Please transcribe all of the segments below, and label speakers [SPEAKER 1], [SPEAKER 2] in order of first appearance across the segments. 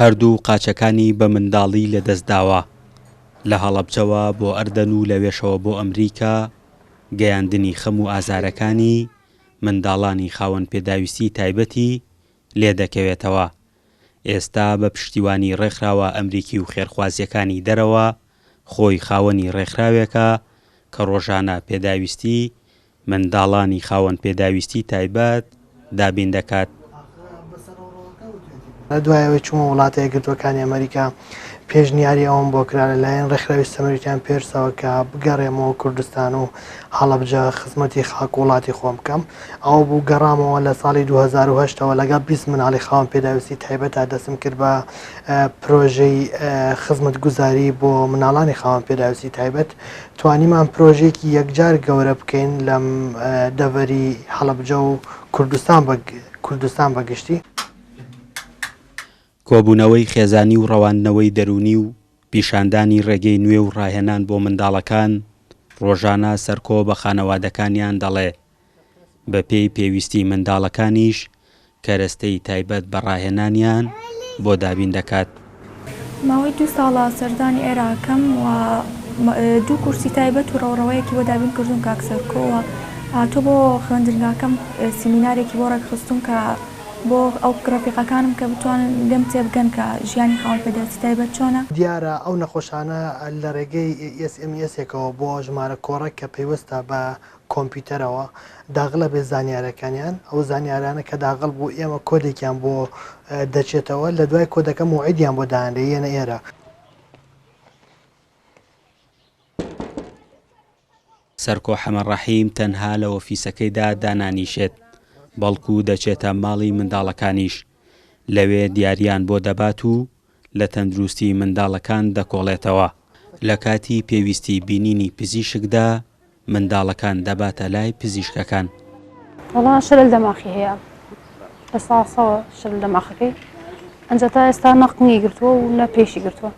[SPEAKER 1] هەردوو قاچەکانی بە منداڵی لەدەستداوە، لە هەڵەبجەوە بۆ ئەردەن و لەوێشەوە بۆ ئەمریکا، گەیاندنی خەم و ئازارەکانی منداڵانی خاوەن پێداویستی تایبەتی لێدەکەوێتەوە، ئێستا بە پشتیوانی ڕێکخراوە ئەمریکی و خێرخوازیەکانی دەرەوە، خۆی خاوەنی ڕێکخراوێکە کە ڕۆژانە پێداویستی منداڵانی خاوەن پێداویستی تایبەت دابین دەکات.
[SPEAKER 2] دوای ئەوەی چوومە وڵاتە یەکگرتووەکانی ئەمەریکا، پێشنیاری ئەوەم بۆ کرا لەلایەن ڕێکخراوی سەمەریتان پێرسەوە کە بگەڕێمەوە کوردستان و هەڵەبجە خزمەتی خاک و وڵاتی خۆم بکەم. ئەوە بوو گەڕامەوە لە ساڵی دوو هەزار و هەشت ەوە لەگەڵ بیست منداڵی خاوەن پێداویستی تایبەتا دەستم کرد بە پرۆژەی خزمەتگوزاری بۆ منداڵانی خاوەن پێداویستی تایبەت توانیمان پرۆژەیەکی یەکجار گەورە بکەین لە دەڤەری هەڵەبجە و کوردستان بە گشتی.
[SPEAKER 1] کۆبوونەوەی خێزانی و ڕەواندنەوەی دەروونی و پیشاندانی ڕێگەی نوێ و ڕاهێنان بۆ منداڵەکان، ڕۆژانە سەرکۆ بە خانەوادەکانیان دەڵێ، بەپێی پێویستی منداڵەکانیش کەرەستەی تایبەت بە ڕاهێنانیان بۆ دابین دەکات. ماوەی
[SPEAKER 3] دوو ساڵە سەردانی عێراقم و دوو کورسی تایبەت و ڕەوڕەوەیەکی بۆ دابین کردووم کاک سەرکۆ و هاتووە بۆ خوێندنگاکەم سیمینارێکی بۆ ڕێکخستووم کە بۆ ئەو ڕەفیقەکانم کە بتوانن لێم تێبگەن کە ژیانی خاوەن پێداویستی تایبەت چۆنە. دیارە ئەو نەخۆشانە
[SPEAKER 2] لە ڕێگەی ئێس ئێم ئێسێکەوە بۆ ژمارە کۆڕێک کە پەیوەستە بە کۆمپیوتەرەوە داغل ئەبێت زانیارەکانیان ئەو زانیارانە کە داغل بوو ئێمە کۆدێکیان بۆ دەچێتەوە لە دوای کۆدەکە موعیدیان بۆ دانرێ یەنە ئێرە
[SPEAKER 1] سەرکۆ حەمە ڕەحیم تەنها لە ئۆفیسەکەیدا دانانیشێت بەڵکو دەچێتە ماڵی منداڵەکانیش لەوێ دیاریان بۆ دەبات و لە تەندروستی منداڵەکان دەکۆڵێتەوە، لە کاتی پێویستی بینینی پزیشکدا منداڵەکان دەباتە لای پزیشکەکان. وەڵا
[SPEAKER 4] شلل دەماخی هەیە لە ساڵ سەوە شلل دەماخەکەی ئەنجا تا ئێستا نەقنگی گرتووە و نە پێشی گرتووە.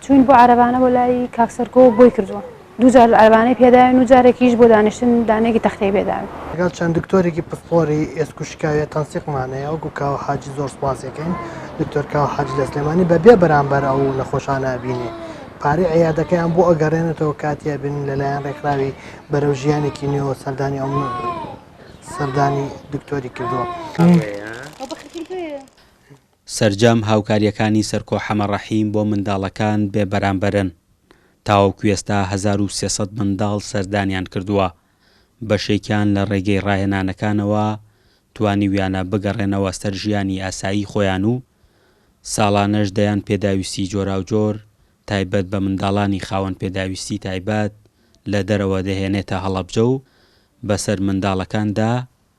[SPEAKER 4] چوین بۆ عەرەبانە بۆ لای کاک سەرکۆ بۆی کردووە دوو جار عەرەبانەی پێداوین و جارێکیش بۆ دانیشتن دانێکی تەختەی پێداوین. لەگەڵ چەند دکتۆرێکی
[SPEAKER 2] پسپۆڕی ئێسک و شکاویە تەنسیقمانەیە وەکو کاوە حاجی زۆر سوپاسیەکەین دکتۆر کاوە حاجی لە سلێمانی بە بێ بەرامبەر ئەو نەخۆشانە ئەبینێ پارەی عیادەکەیان بۆ ئەگەڕێنێتەوە کاتی ئەبینن لە لایەن ڕێکخراوی بەرەو ژیانێکی نوێوە سەردانی ئەو سەردانی دکتۆری کردووە.
[SPEAKER 1] سەرجەم هاوکارییەکانی سەرکۆ حەمە ڕەحیم بۆ منداڵەکان بێ بەرامبەرن، تاوەکو ئێستا هەزار و سێ سەد منداڵ سەردانیان کردووە، بەشێکیان لە ڕێگەی ڕاهێنانەکانەوە توانیویانە بگەڕێنەوە سەر ژیانی ئاسایی خۆیان و ساڵانەش دەیان پێداویستی جۆراوجۆر تایبەت بە منداڵانی خاوەن پێداویستی تایبەت لە دەرەوە دەهێنێتە هەڵەبجە و بەسەر منداڵەکاندا